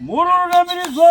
mururunamiridzo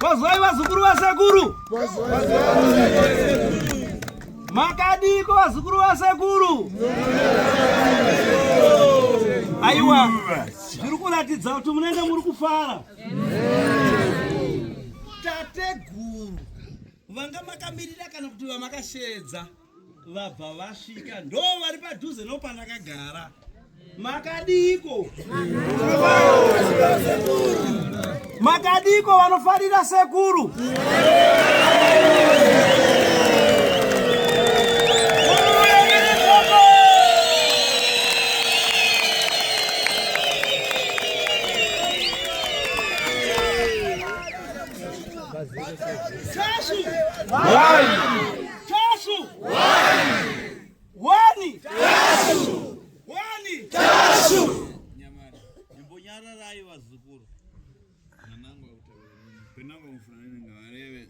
Vazwai vazukuru vasekuru, makadiko vazukuru vasekuru, aiwa. Zviri kuratidza kuti munenge muri kufara. Tateguru vanga makamirira kana kuti vamakasheedza vabva vasvika ndo vari padhuze no pandakagara makadiiko Makadiko vanofarira sekuru. Wani. Wani. Tashu. Nyamara. Imbonyara rai vazukuru. Nanangu akutaura. Penanga mufanani ngavareve.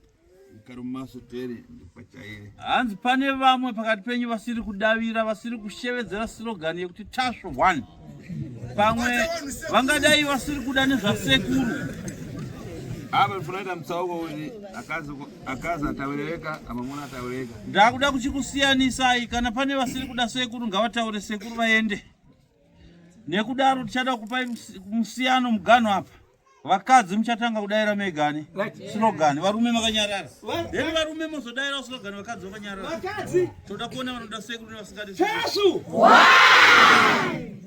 Karumaso tere ndipachaire. Hanzi pane vamwe pakati penyu vasiri kudavira vasiri kushevedzera slogan yekuti Tashu 1. Pamwe vangadai vasiri kuda nezvasekuru. Ava funaita mtsauko uyu akazi akazi ataureweka amamuna ataureweka ndakuda kuchikusiyanisai kana pane vasiri kuda sekuru ngavataure sekuru vaende nekudaro tichada kupai musiyano muganho apa vakadzi muchatanga kudaira megani slogan varume makanyarara then varume mozodaira slogan vakadzi vakanyarara toda kuona vanoda sekuru nevasingadi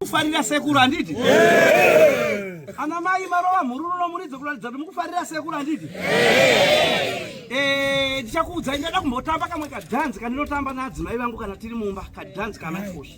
kufarira sekuru handiti ana mai marova mhururu nomuridzo kuratidza kuti mukufarira sekuru handiti eh, ndichakuudzai ndada kumbotamba kamwe kadhanzi kandinotamba naadzimai vangu kana tiri mumba kadhanzi kanafoshi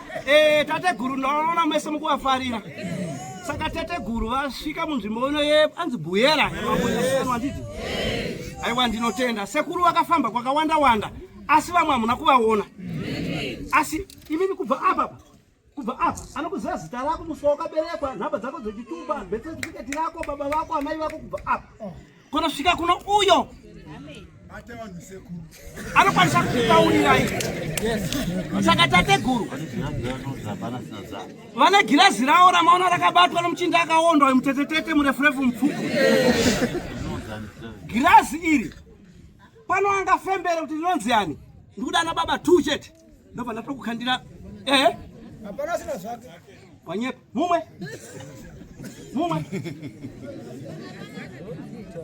Eh, tateguru ndavanoona mese mukuvafarira saka tateguru vasvika munzvimbo ino ye anzi buyera yemamoyaanditi aiwa ndinotenda sekuru vakafamba kwakawanda wanda asi vamwe hamuna kuvaona asi imini kubva apa kubva apa anokuziva zita rako musi wakaberekwa nhamba dzako dzechitupa betsetifiketi rako baba vako amai vako kubva apa kunosvika kuno uyo anokwanisa kukutaurirai saka tateguru vane girazi ravo ramaona rakabatwa nomuchinda akaondwa uyu mutetetete murefurefu mupfuku girazi iri pano angafembere kuti rinonzi ani ndikuda ana baba two chete ndobva ndatoda kukhandira ehe hapana asina zvake wanyepa mumwe mumwe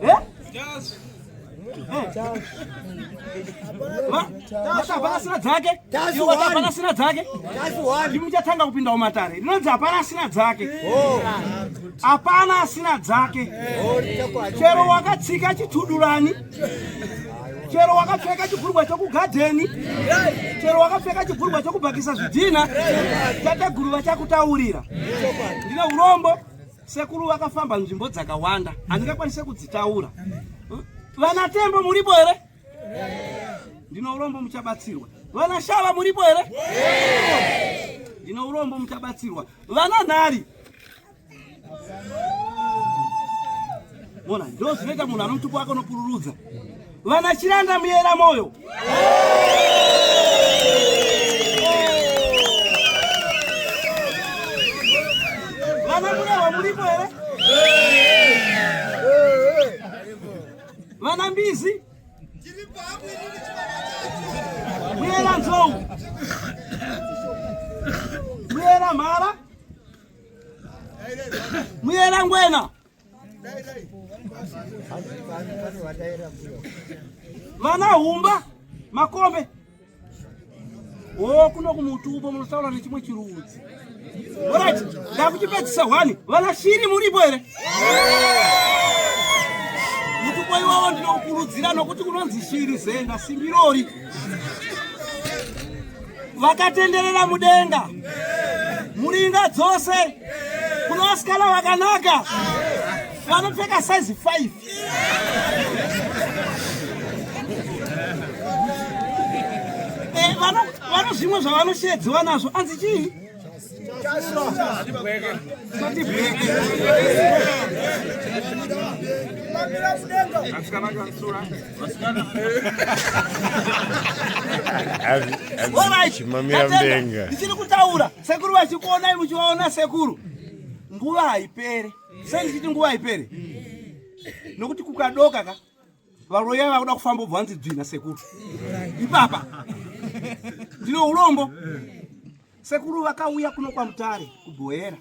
eh? hapana asina dzake hapana asina dzake ndimuchatanga kupinda umatare rinonzi hapana asina dzake oh. hapana asina dzake chero wakatsika chitudurani chero wakapfeka chibhurugwa chokugadheni chero wakapfeka chibhurugwa chokubhakisa zvidhina tateguru vachakutaurira ndine urombo sekuru vakafamba nzvimbo dzakawanda handingakwanise kudzitaura vana tembo muripo here ndine urombo muchabatsirwa vana shava muripo here ndine urombo muchabatsirwa vana nhari Mona, ndo zvinoita munhu ano mutupo wake unopururudza vana chiranda muyera moyo vana murewa muripo here vana mbizi muyera nzou muyera mhara muyera ngwena vana humba makombe o kuno kumutupo munotaura nechimwe chirudzi orit ndakuchipedzisa hwani vana shiri muripo here mutupo iwavo ndinokurudzira nokuti kunonzi shiri zenda simbirori vakatenderera mudenga muringa dzose kuna vasikana vakanaka vanopfeka size 5 eh, vano zvimwe zvavanosheedziwa nazvo anzi chii ndichiri kutaura sekuru vachikuonai muchivaona sekuru nguva haipere sei ndichiti nguva haipere nokuti kukadoka ka Varoya vakuda kufamba ubva wanzi dzvina sekuru. Ipapa. Ndine urombo. Sekuru vakauya kuno kwaMutare kuBhoera.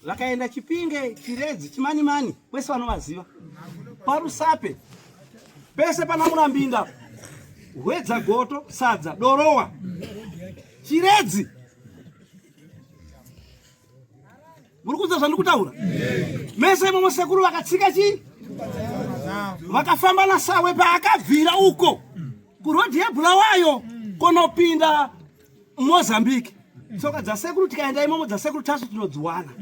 Vakaenda Chipinge, Chiredzi, Chimanimani, kwese vanovaziva. Parusape pese pana Murambinda, Hwedza Goto, Sadza, Dorowa, Chiredzi. muri kunzwa zvandiri kutaura mese imomo sekuru vakatsika chii vakafamba nasawe paakabvira uko kurodhi yebhulawayo kunopinda mozambique tsoka dzasekuru tikaenda imomo dzasekuru tasu tinodziwana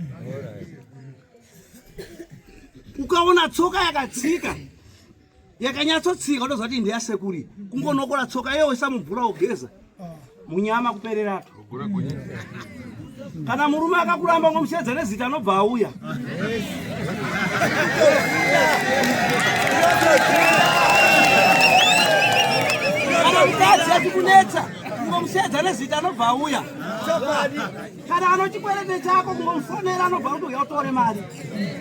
ukaona tsoka yakatsika yakanyatsotsika unoziva kuti inde yasekuri kungonokora tsoka iye oisamubvura ogeza munyama kupererato kana murume akakuramba ngomushedza nezita anobva auya kana mukadzi achikunetsa ngomushedza nezita anobva auya kana anochikwerete chako ngomufonera anobva kuti uya utore mari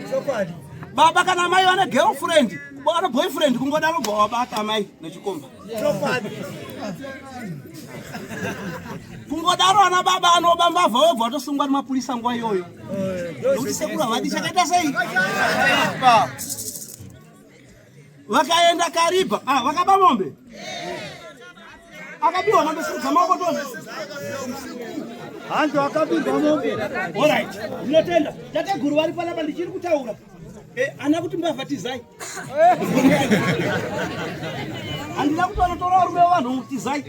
chokwadi baba kana mai vane girlfriend vana boyfriend kungodaro bva wabata mai nechikomba kungodaro ana baba anoba mbavha webva watosungwa nemapurisa nguva iyoyo nokuti sekuru havadi chakaita sei vakaenda kariba ah, vakaba mombe akabiwa mombe sirudza maoko tone hanzi akabirwa mombe orit ndinotenda tateguru vari panapa ndichiri kutaura eh, ana kuti mbavha tizai handina kuti vanotora varume vavanhu tizai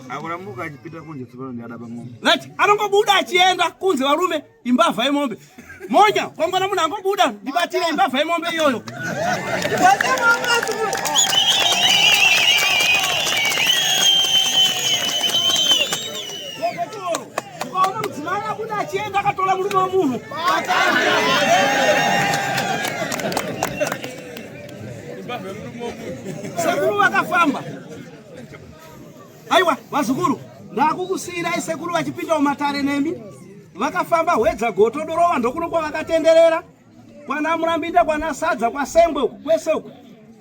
akurambuka achipita kunje tsopano ndiadaba mombe right anongobuda achienda kunze varume imbavha yemombe monya kwangwana munhu angobuda ndibatire imbavha yemombe iyoyo ukaona mudzimai abuda achienda akatola murume wemunhu sekuru vakafamba Aiwa vazukuru, ndakukusiirai sekuru vachipinda mumatare nemi. Vakafamba hwedza goto dorova ndokuno kwavakatenderera kwana Murambinda kwana Sadza kwaSengwe uku kwese uku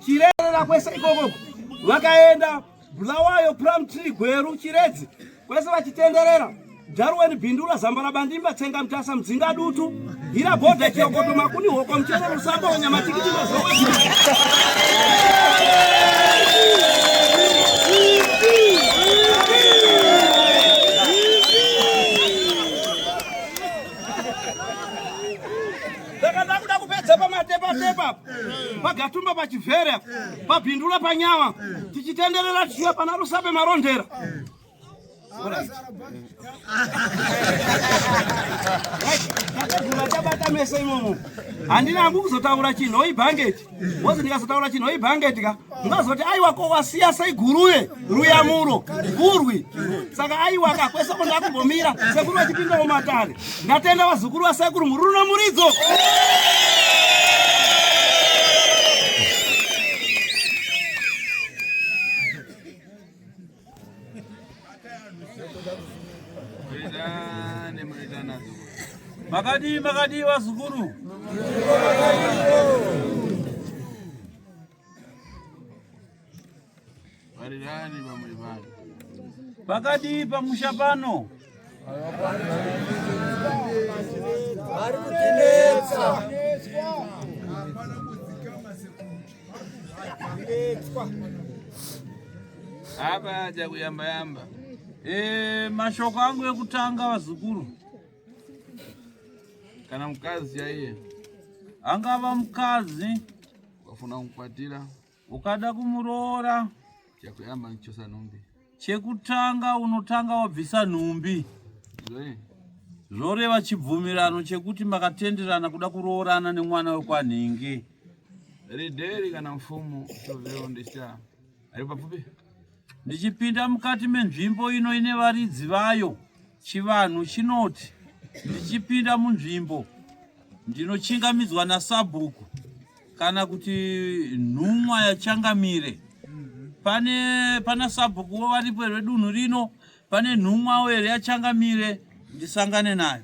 Chirerera kwese ikoko vakaenda Bulawayo Plum Tree Gweru Chiredzi kwese vachitenderera Darwin Bindula Zambara Bandimba Tsenga Mtasa Mdzinga Dutu Hira Boda Kiokoto Makuni Hoko Mchero Rusamba Wanyama Tikiti Mazowe pagatumba pachivhere pabhindula panyama tichitenderera tichiya pana rusape marondera tabata meso imomo handina hangu kuzotaura chinhu oibhangeti wozi ndikazotaura chinhu oibhangeti ka mungazoti aiwa ko wasiya sei guruye ruyamuro gurwi saka aiwa ka kwese ko ndakumbomira sekuru vachipinda mumatare ndatenda vazukuru vasekuru muri runo muridzo Makadii makadii vazukuru. Varirani vamwe vanhu. Pakadii pamusha pano. Hapa haja kuyamba yamba. E, mashoko angu ekutanga vazukuru kana mukadzi chaiye angava mukadzi wafuna kukwatira ukada kumuroora chakuyamba kuchosa nhumbi chekutanga unotanga wabvisa nhumbi zvoreva chibvumirano chekuti makatenderana kuda kuroorana nemwana wekwanhingi rideri kana mfumo toveondesa ari papfupi Ndichipinda mukati menzvimbo ino ine varidzi vayo, chivanhu chinoti ndichipinda munzvimbo ndinochingamidzwa nasabhuku kana kuti nhumwa yachangamire. Pane pana sabhukuwo varipo here dunhu rino? Pane nhumwawo here yachangamire ndisangane nayo?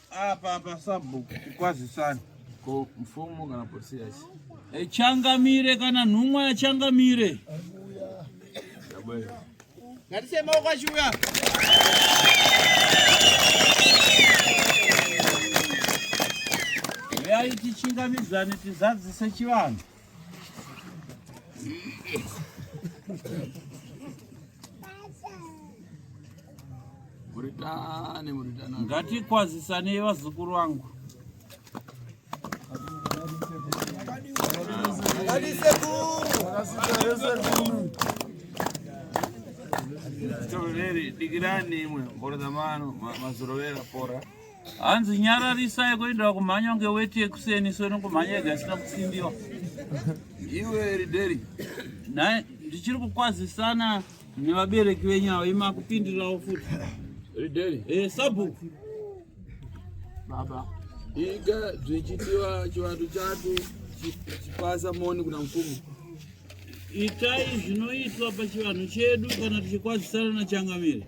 Apa apa sabhuku kukwazisana. Ko mfumo kana polisi yacho. E, changamire kana nhumwa ya changamire. Ngarise maoko achiuya. Reyayi tichingamidzane tizadzise chivanhu. Ngatikwazisanei vazukuru vangu. Toreri digirani imwe mhoro dzamano mazorovera pora. hanzi nyararisai kuenda kumhanya kunge weti yekuseni so inongomhanya yega isina kutsindiwa iwe rideri naye ndichiri kukwazisana nevabereki venyu avo imakupindirawo futi rideri e eh, sabhuku baba iga zvichitiwa chivanhu chatu chipasa moni kuna mfumo itai zvinoitwa pachivanhu chedu kana tichikwazisana nachangamire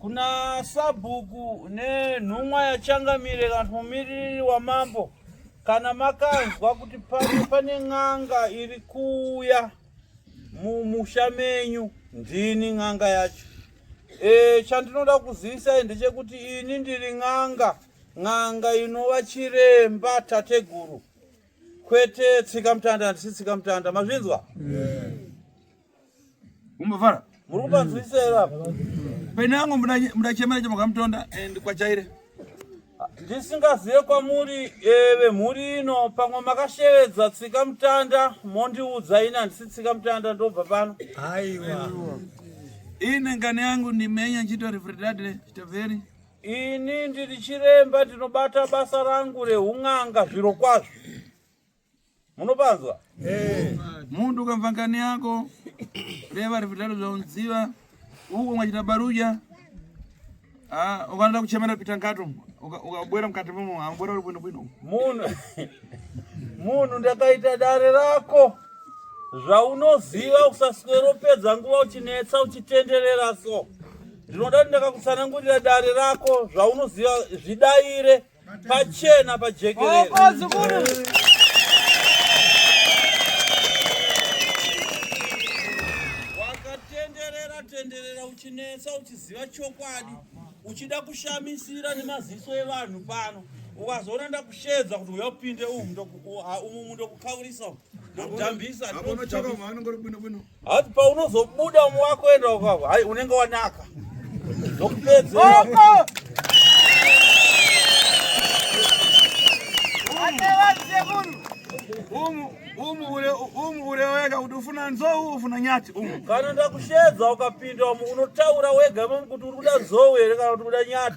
Kuna sabhuku nenhumwa yachangamire kana kuti mumiririri wamambo kana makanzwa kuti pano pane n'anga iri kuuya mumusha menyu ndini n'anga yacho e, chandinoda kuzivisai ndechekuti ini ndiri n'anga n'anga inova chiremba tateguru kwete tsika mutanda handisi tsika mutanda mazvinzwa umbofara muri kupanzwisira pene yangu mudachemera chemakamutonda and kwachaire ndisingazive kwamuri eve mhuri ino pamwe makashevedza tsika mutanda mondiudza ini handisi tsika mutanda ndobva pano aiwa ine ngane yangu ndimenya nchito refredadre chitaveri Ini ndiri chiremba ndinobata basa rangu reun'anga zviro kwazvo. Munopanzwa? Eh. Mundu ukamva ngani yako reva rivitalo zvaunziva uko ungachita baruja ah, ukanoda kuchemera pita ngato ukabwera mukati mumu ambwera uri bwino bwino munhu munhu ndakaita dare rako zvaunoziva usaswero pedza nguva uchinetsa uchitenderera so Ndinoda kuti ndakakutsanangurira dare rako zvaunoziva zvidaire pachena pajekerere. Wakatenderera tenderera uchinetsa uchiziva chokwadi uchida kushamisira nemaziso evanhu pano ukazoona ndakushedza kuti uya upinde umu umu ndokukaurisa umu ndokudhambisa Hati paunozobuda umwe wako enda wakako. Hai unenge wanaka. Ndokupedza. umu ure wega kuti ufuna nzou ufuna nyati umu kana ndakushedza ukapinda umu unotaura wega mamu kuti uri kuda nzou here kana kuti kuda nyati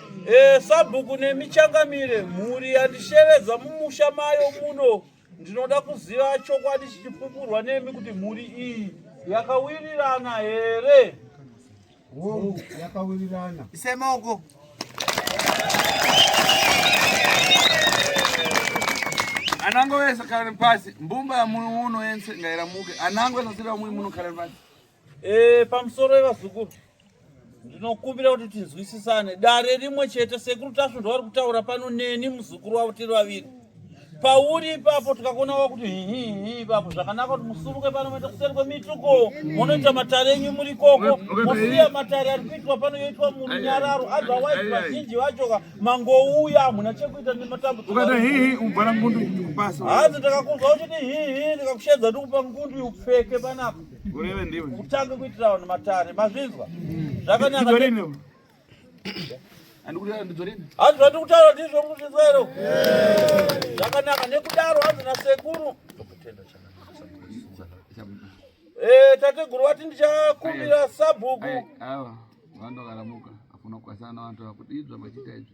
E, sabhuku nemi changamire mhuri yandishevedza mumusha mayo muno ndinoda kuziva chokwadi chichipupurwa nemi kuti mhuri iyi yakawirirana here hongu yakawirirana isemaoko anango wese khalani pasi mbumba ya muno uno yense ngairamuke anango esasira mui muno khalani pasi Eh, pamusoro vevazukuru ndinokumbira kuti tinzwisisane dare rimwe chete sekuru tasvo ndowari kutaura pano neni muzukuru wavo tiri vaviri pauri ipapo tikakuona wa kuti hihihi ipapo zvakanaka kuti musuruke pano moita kuseri kwemituko munoita matare enyu muri koko mosiya matare ari kuitwa pano yoitwa murunyararo otherwise vazhinji vachoka mangouya hamuna chekuita nematambudziko hanzi ndakakunzwa uchiti hihi ndikakushedza ndikupa ngundu upfeke panapa Kutange kuitira vanhu matare, mazvinzwa? Zvakanaka. Hanzi zvati kutaura ndizvo muzvinzwa ero? Zvakanaka nekudaro hanzi nasekuru. Eh, tateguru wati ndichakumbira sabhuku. Awa, wandokaramuka. Afuna kukwasana na vantu vakudizwa machita izvi.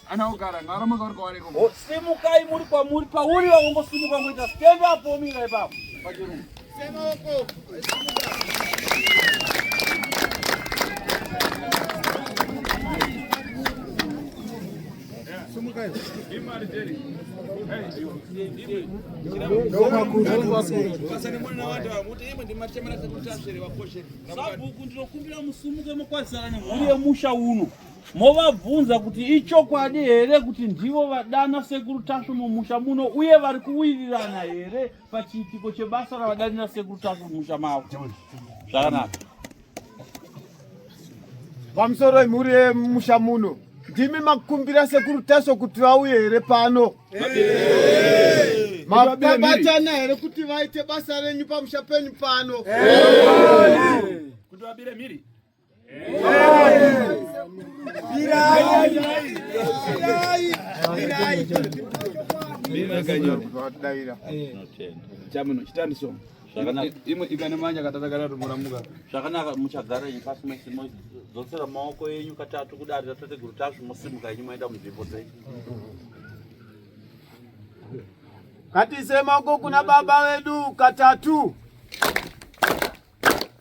Oh, simukai muri kwamuri pauri vavongosimuka ngoita stand up omira ipapo pachirumu sabhuku ndinokumbira musumuke mokwazana nemhuri yemusha uno movabvunza kuti ichokwadi here kuti ndivo vadana sekuru tasvu mumusha muno uye vari kuwirirana here pachiitiko chebasa ravadanira sekuru tasvu mumusha mavo zvakanaka pamusoro imhuri yemusha muno ndimi makumbira sekuru tasvu kuti vauye here pano makabatana here kuti vaite basa renyu pamusha penyu pano kuti vabire mhiri zvakanaka muchagara inyi pasi mese modzosera maoko enyu katatu kudari tatateguru tazvi mosimuka inyi maenda munzvimbo dzenyu katise maoko kuna baba vedu katatu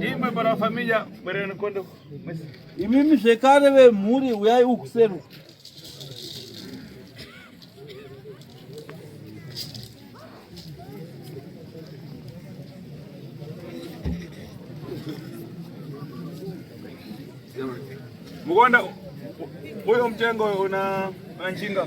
imwe para família bwereni kondo imimi zvekare vemhuri uyai ukuseru mukonda uyo mutengo una njinga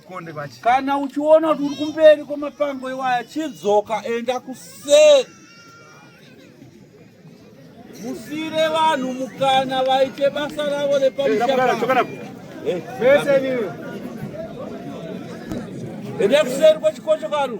kana uchiona kuti uri kumberi kwemapango iwaya chidzoka enda kuseri musire vanhu mukana vaite basa ravo repamusha enda kuseri kwechikocho kanu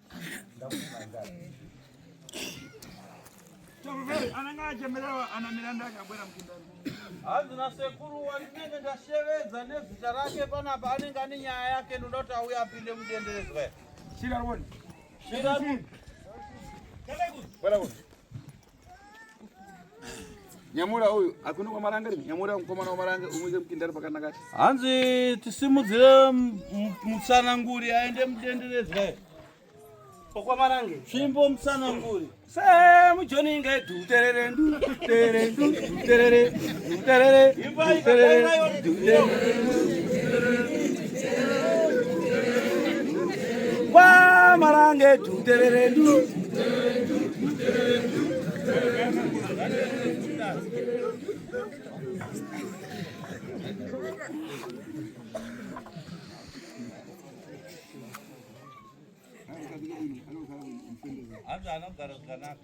ananga achemererwa ana miranda akabwera mukundani hanzi nasekuru wandinenge ndashevedza nezita rake panapa anenge ane nyaya yake ndoda kuti auye apinde mudenderedzwa shiraroni shiraroni nyamura uyu akuno kwamaranga ri nyamura mukomana wamaranga umuise mukindari pakanaka hanzi tisimudzire mutsananguri aende mudenderedzwa okwamarange tsvimbo mutsananguri se mujoni inga iduterere ndu terere ndu terere terere terere terere kwamarange tutererendu Hata anogara zvakanaka.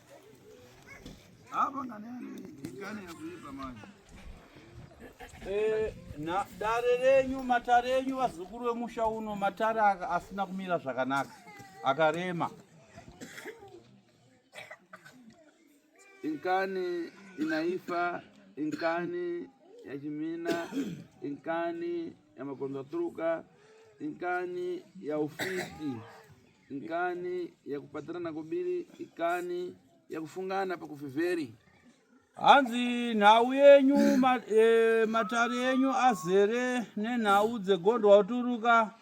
Hapa ngani ikani ya kuipa maji. Eh, na dare renyu matare enyu vazukuru vemusha uno matare asina kumira zvakanaka akarema inkani inaifa inkani ya chimina inkani ya makonzaturuka inkani ya ufiti Nkani ya kupatirana kubiri ikani ya kufungana pakufiveri. Hanzi nhau yenyu ma, e, matare yenyu azere nenhau dzegondwa uturuka,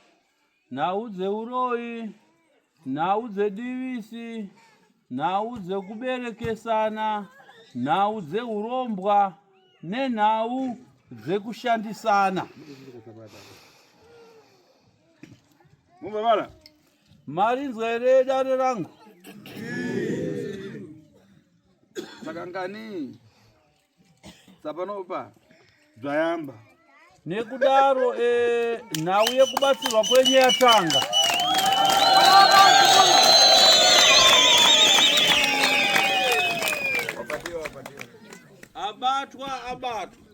nhau dzeuroyi, nhau dzedivisi, nhau dzekuberekesana, nhau dzeurombwa nenhau dzekushandisana. Mumbavala. Mari nzwere dare rangu. Sakangani. Sapanopa. Zvayamba. Nekudaro eh nhau yekubatsirwa kwenye yatanga. Abatwa abatwa.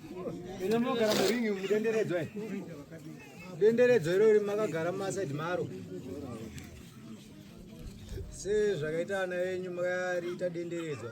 Ino munogara muringi mudenderedzwa eh? denderedzwa irori makagara mumasaidi maro sezvakaita ana venyu makariita denderedzwa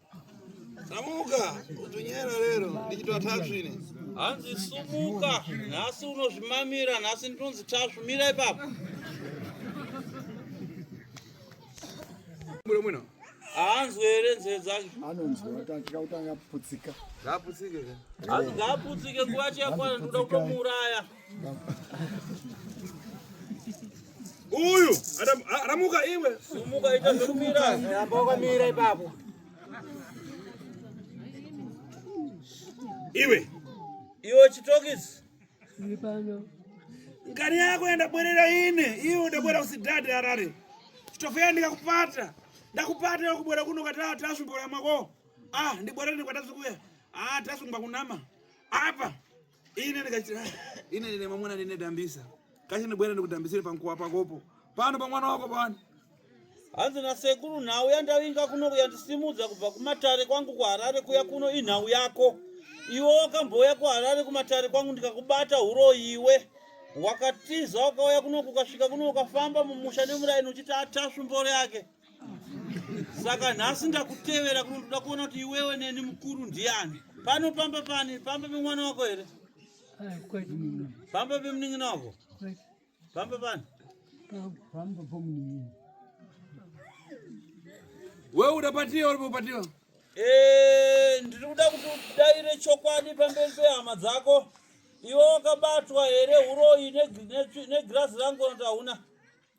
Samuka, utunyera lero, ndichitwa tasvu ine. Hanzi sumuka, nhasi unozvimamira, nhasi ndinonzi tasvu, mira ipapo. Mbuyo mwino. Hanzwe here nzeve dzake? Anonzwa, atatya kuti angaputsika. Ngaputsike. Hanzi ngaputsike, nguva chiyakwana, ndoda kutomuuraya. Uyu aramuka iwe. Sumuka ita zvokumira. Ramba wakamira ipapo. Iwe. Iwe chitokisi. Iri pano. Ngani yako yenda bwerera ine. Iwe ndabwera usidade arare. Chitofeya ndikakupata. Ndakupata yokubwera kuno katatu tasumbola mwako. Ah, ndibwera ndikwatazikuya. Ah, tasumba kunama. Apa. ine ndikachira ine ndine mamwana ndine dambisa kache ndibwera ndikudambisire pankuwa pakopo pano pamwana wako pano hanzi nasekuru nhau yandavinga kuno kuyandisimudza kubva kumatare kwangu kuharare kuya kuno inhau yako iwe wakambouya kuharare kumatare kwangu ndikakubata huroyi iwe wakatiza wakauya kuno kukasvika kuno ukafamba mumusha nemuraini uchiti atasvu mboro yake saka nhasi ndakutevera kuno ndoda kuona kuti iwewe neni mukuru ndiani pano pamba pani pamba pemwana wako here pamba pemunin'ina wako pamba pani wewe uda patiyo uripo patiyo Eh, ndiri kuda kuti udaire chokwadi pamberi pehama dzako iwe wakabatwa here uroyi negirazi rangu noti hauna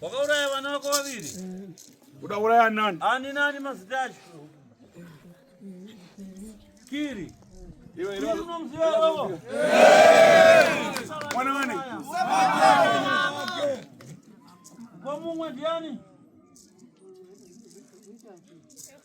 wakauraya vana vako vaviri eh. uda uraya nani ani nani mazita acho kiri Kwa Mungu ndiani?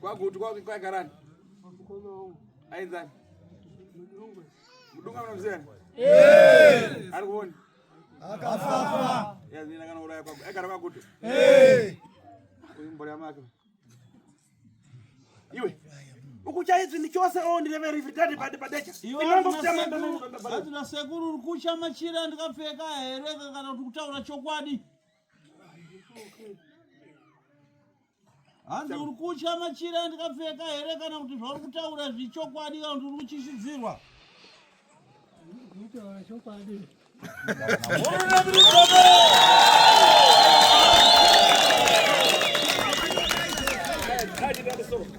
Kwagutu kwa kwa karani. Aidha. Mudunga mnamzeni. Eh. Arikuoni. Akafafa. Ya nina kana uraya kwa. Ekara kwagutu. Eh. Uyu mbori amaka. Iwe. Ukucha hizi ni chose o oh, ndi level ifitati pade padecha. Inombo kutama ndo. Ati na sekuru ukucha machira ndikapfeka here kana kuti kutaura chokwadi. Okay. hanzi uri kutya machira andikapfeka here kana kuti zvauri kutaura zvichokwadi kana kuti uri kutyisidzirwa Thank you.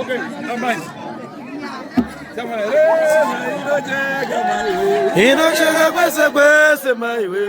Okay, I'm nice. Inocheka kwese kwese maiwe